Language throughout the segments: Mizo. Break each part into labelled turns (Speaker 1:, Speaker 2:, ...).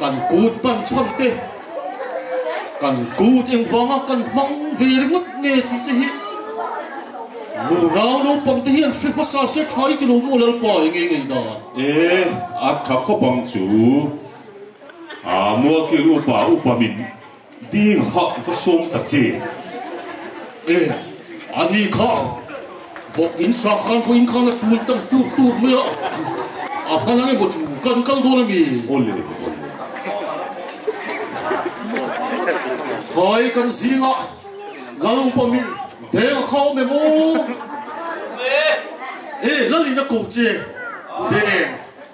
Speaker 1: Kan kut pan chhan te, kan kut eng vanga kan hmang ve ringawt nge tih te hi nu nau naupang te hian hre hmasa se thai ti lo maw Lalpa e ngei ngei da. E a
Speaker 2: tha khawp ang chu. A mualkhil upa upa min. Ding hah va sawm ta che. E, a ni kha. Vawk in sa khan vawiin khan a tul tan tur tur mai a. A hman ang emaw chu kan kal dawn a mi? Aw le, aw le. Hai kan zinga Lal upa min Deng kha awm em aw? E, Lal in a ko che, u Deng.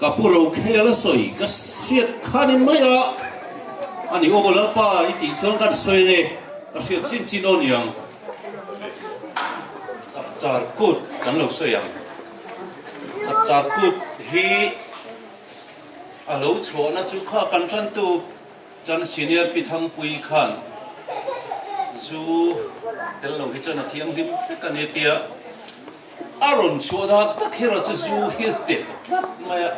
Speaker 2: Ka pu lo khel a sawi ka hriat khanin mai a a ni aw lalpa i tih chuan kan sawi nge ka hriat chin chin aw niang chak char kut kan lo sawi ang chak char kut hi a lo chhuah na chu kha kan tan tu chan senior pi thang pui khan zu tel lo hi chuan a thiang hlim fek a ni tia A rawn chhuah dan tak hi rawh chu zu hi teh tlat mai a,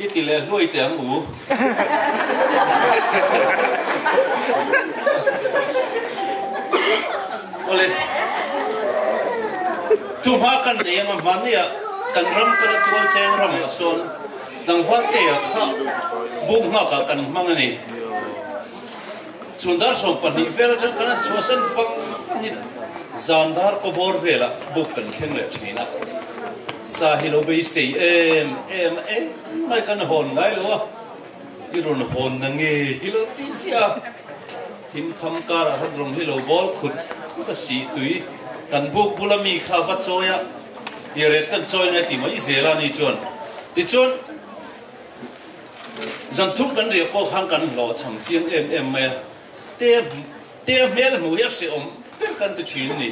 Speaker 2: i ti leh hluai teh ang u. Awle, chu hma kan nei ang a, mahni ah kan ram kala Tualcheng ram ah sawn tlangval te ah kha buk
Speaker 3: nghak ah kan hmang a ni. Chu dar sawm pahnih vel atang khan an chhuahsan vang vang in zan dar kawbawr velah buk kan thleng leh thin a. Sa hi lo beisei em em a engmai kan hawn ngai lo a, i rawn hawn na nge hi lo ti zia thim tham karah khan rawng hi lo bawl khut khut a sih tui. Kan buk bula mi kha va chawi a, i ret kan chawi ngai ti mai zel a ni chuan tichuan. Zan thum kan riah pawh khan kan hlawh chham chiang em em mai a, te te hmel hmu hi a hrehawm ber kan ti thin a ni.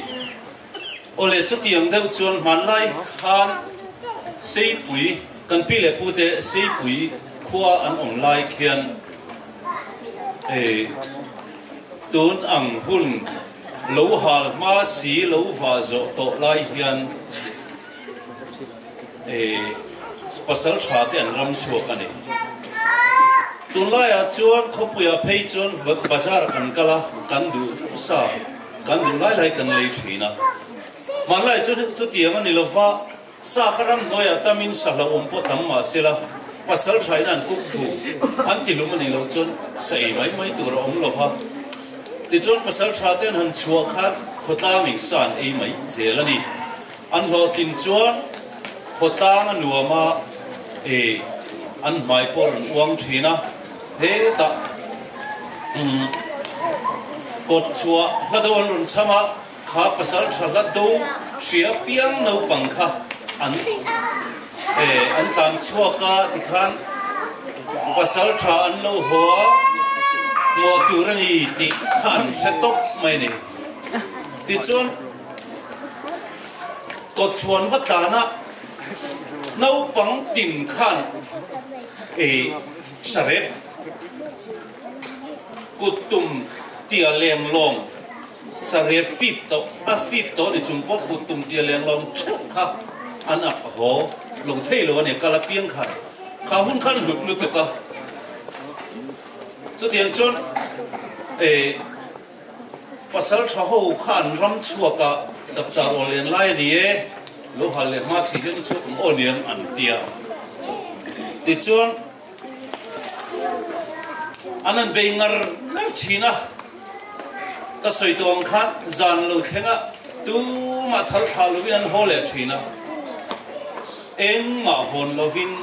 Speaker 3: Awle chutiang deuh chuan hmanlai khan Seipui kan pi leh pu te Seipui khua an awm lai khian tun ang hun lo hal hma si lo vah zawh tawh lai hian Ehh, pasal tha te an ram chhuak a ni. Tun laiah chuan khawpuiah phei chuan bazar kan kal a, kan duh sa, kan duh lai lai kan lei thin a. Hmanlai chu chutiang a ni lo va, sa kha ram hnuaiah tam in sa hlau awm pawh tam mah se la, pasal tha in an kuk thu, an ti hlum a nih loh chuan sa ei mai mai tur a awm lo va. Tichuan pasal tha te an han chhuah khan khawtlang in sa an ei mai zel a ni. An hlawh tling chuan khaw tlang a nuam a, e, an hmai pawh a rawn uang thin a, hetah umm kawt chhuah hla deuh an rawn chham a, kha pasal tha hla do hria piang naupang kha an e an tlan chhuak a ti khan pasal tha an lo haw a, hmuah tur a ni tih kha an hre tawp mai a ni. Tichuan. Kawt chhuan va tlana naupang tin khan ei sarep kut tum tia lenglawng sarep fip tawh a fip tawh ni chung pawh kut tum tia lenglawng theuh kha an ak a haw lo thei lo a ni. Kal apiang khan kha hun khan hlut lutuk a chutiang chuan ei Pasal tha ho kha an ram chhuak ah chak char aw len lai a ni e, lo hal leh hma si hian a chhuak ang aw niang an ti a. Tichuan an han bei ngar ngar thin a, ka sawi tawh ang khan zan lo thleng a tumah thal thlah lovin an haw leh thin a, engmah hawn lovin.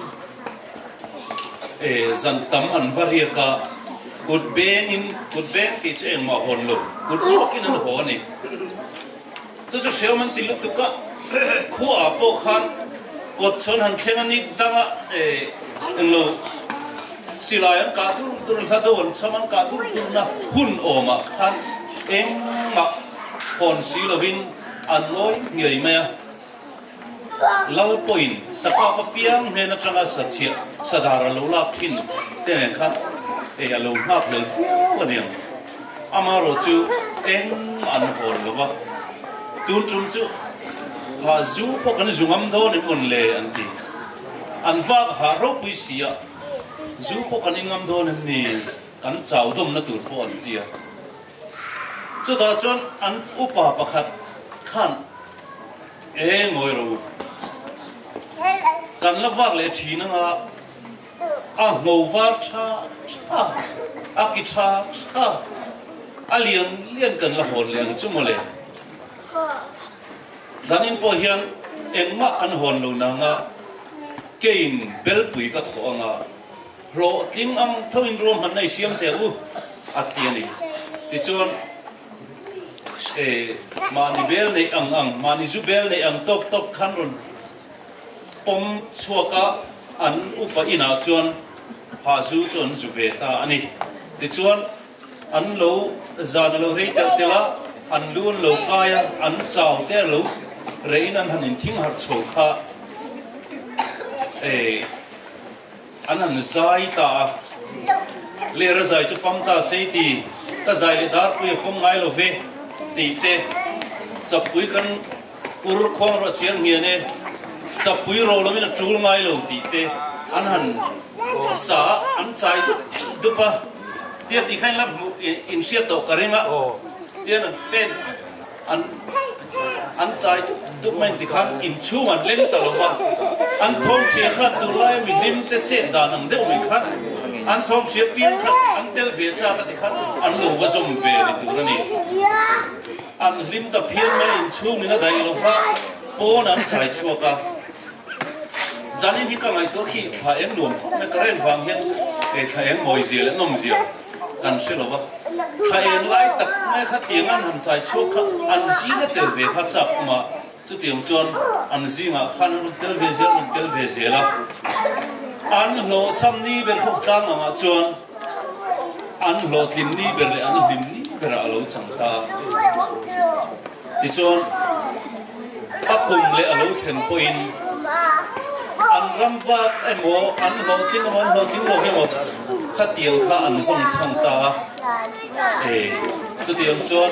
Speaker 3: E zan tam an va riak a, kut beng in, kut beng tih chu engmah a hawn lo, kut ruak in an haw a ni. Chu chu hriam an ti lutuk a, khua ah pawh khan kawt chuan han thleng a nik dang a, e englo silai an kah dur dur, hla do an cham an kah dur dur na hun awm ah khan engmah hawn si lo in an ngawi ngiai mai a. Lal pawhin sakha khaw piang hnên aṭanga sachhiah, sadar a lo lâk ṭhin te nen kha ei a lo nghâk lel fuau a ni ang. Amaherawh chu eng an hawl lo va, tun ṭum chu hah zu pawh kan zu ngam dawn em mawn le an ti. An vâk a hah ropui si a, zu pawh kan in ngam dawn em ni? Kan chau dawmna tur pawh an ti a. Chutah chuan an upa pakhat khân. E Mawiro, kan la vak leh thin anga a hmo var tha tha, a ki tha tha, a lian lian kan la hawn leh ang chu mawle. Zanin pawh hian engmah kan hawn lo nanga keiin belpui ka thawh anga hlawhtling ang thoin ruahmanna i siam tel u, a ti a ni. Tichuan. Mahni bel neih ang ang, mahni zu bel neih ang tawk tawk khan rawn pawm chhuak a, an upa inah chuan phah zu chu an zu ve ta a ni. Tichuan an lo zan a lo rei telh telh a, an lu an lo kai a, an chau te a lo reh in an han in thing harh chho kha. An han zai ta a, Lera zai chu fam ta sei ti, ka zai leh darpui a fam ngai lo ve tih te, Chapui khan ur khuang rawh a chiar nghian e, Chapui ro lovin a tul ngai lo tih te an han sa a, an chai dup dup a, tia tih kha in la hriat tawh ka ring a, tia an pen. An an chai dup dup mai ti khan inchhung an leng ta lo a, an thawmhria khat tur laia mi hlim te chet dan ang deuh mai khan an thawmhria piang khat an tel ve chak a ti khan an lo va zawm ve ni tur a ni. An hlim ta phian mai a inchhung in a daih lo kha pawn an chai chhuak a, zanin hi ka ngaihtuah khi thla eng nuam khawp mai ka ren vang hian thla eng mawizia leh nawmzia kan hre lo va, tha eng lai tak mai kha tiang an han chai chhuak kha an zinga tel ve kha chak awm a, chuti ang chuan an zingah khan a rawn tel ve zel rawn tel ve zel a, an hlawhchham ni ber khawk tlang ang ah chuan an hlawhtlin ni ber leh an hlim ni berah a lo chang ta a. Tichuan, a kum leh a lo thlen pawhin an ram vak emaw, an hlawhtling emaw, an hlawhtling lo hi emaw, khatiang kha an zawng chhang ta a. He chutiang chuan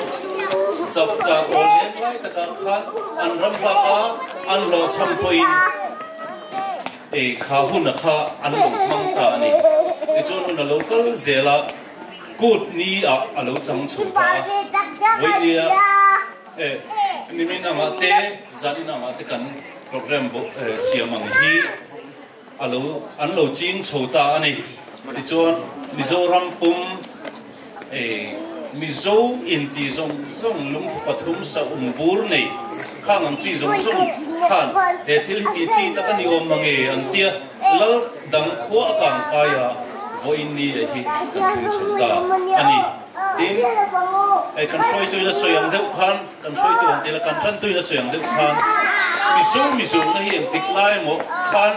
Speaker 3: chap chak aw lem lai takah khan an ram vak a, an hlawh chham pawhin kha hun a kha an lo hmang ta a ni. Tichuan hun a lo kal zel a. Kut ni ah a lo chang chho ta a, Vawinia e nimin angah te zan in angah te kan program bo siam ang hi a lo an lo ching chho ta a ni. Tichuan Mizoram pum e Mizo in ti zawng zawng lungthu pathum sahum bur nei khang ang chi zawng zawng khan he thil hi tih chi tak a ni awm mang e an tia. Lal dang khua a kang kaia vawiin ni leh hi kan tling chho ta a ni. Tin, hei kan hruaituina sawi ang deuh khan, kan hruaitu han ti ila, kan hrantuina sawi ang deuh khan, miso mizohna hi engtik lai emaw khan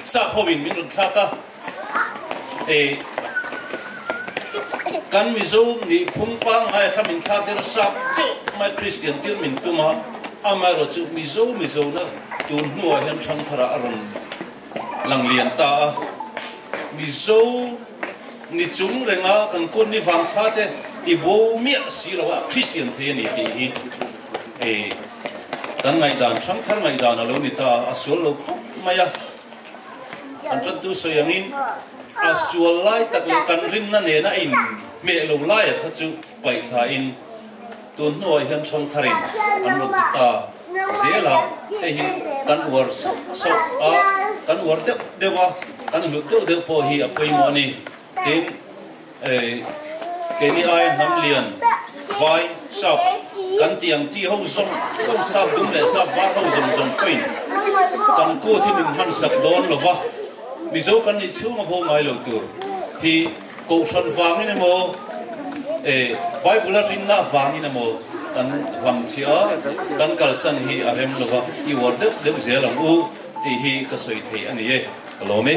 Speaker 3: sap hovin min rawn thlak a. Hei kan Mizo nih phung pangngaia kha min thlak ila sap deuh mai Kristian tir min tum a, amaherawhchu mizo mizona, Tun hnuah hian Thangthara a rawn lang lian ta a, Mizo ni chung renga kan kut ni vang sa te ti bo miah si lo a, Kristian thei a ni tih hi hei kan ngaihdan Thangthar ngaihdan a lo ni ta a, a sual lo khawp mai a. Kan ṭantu sawi angin a sual lai tak leh kan rinna nena a in hmeh lo laia kha chu paihtlaiin, Tun hnuah hian chhawng thar in an rawn ti ta zel a, hei hi kan uar sauh sauh a, kan uar deuh deuh a, kan hlut deuh deuh pawh hi a pawimawh a ni, tin keini aia hnam lian vai sap kan tih ang chi ho zawng zawng sap dum leh sap var ho zawng zawng pawhin kan kut hi min hmansak dawn lo va, Mizo kan nih chhung a bawh ngai lo tur hi. Kohhran vangin emaw e, Bible-a rinna vangin emaw kan hlam chhia a, kan kalsan hi a rem lo va, i uar deuh deuh zel ang u tih hi ka sawi thei a ni e, ka lawm e.